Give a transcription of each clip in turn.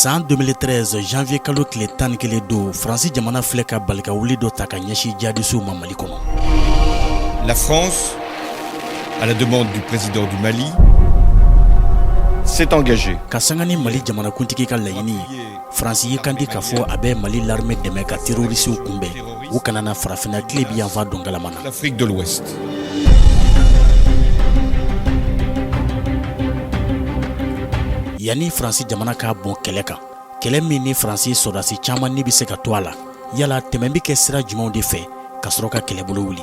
san 2013 janvier kalo tile tan ni kelen don faransi jamana filɛ ka balikawuli dɔ ta ka ɲɛsin jihadisiw ma mali kɔnɔ la france à la demande du président du mali s'est engagée ka sanga ni mali jamanakuntigi ka laɲini faransi y'i kandi k'a fɔ a bɛ mali larme dɛmɛ ka terorisiw kunbɛn u kana na farafinna tilebin yanfan don galama na yanni faransi jamana k'a bon kɛlɛ kan kɛlɛ min ni faransi sɔrɔdasi caman ni bɛ se ka to a la yala tɛmɛn bɛ kɛ sira jumɛnw de fɛ ka sɔrɔ ka kɛlɛbolo wuli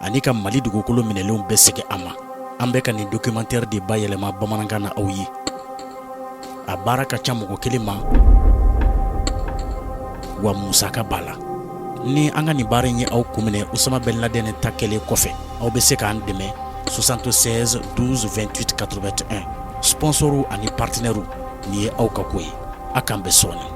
ani ka mali dugukolo minɛlenw bɛɛ segin a ma an bɛ ka nin documentaire de bayɛlɛma bamanankan na aw ye a baara ka ca mɔgɔ kelen ma wa musaka b'a la ni an ka nin baara in ye aw kun minɛ usama bɛn ladɛnɛ ta kɛlen kɔfɛ aw bɛ se k'an dɛmɛ 76 12 28 81 sponsɔrw ani partenɛrw nin ye aw ka ko ye a k'an bɛn sɔɔni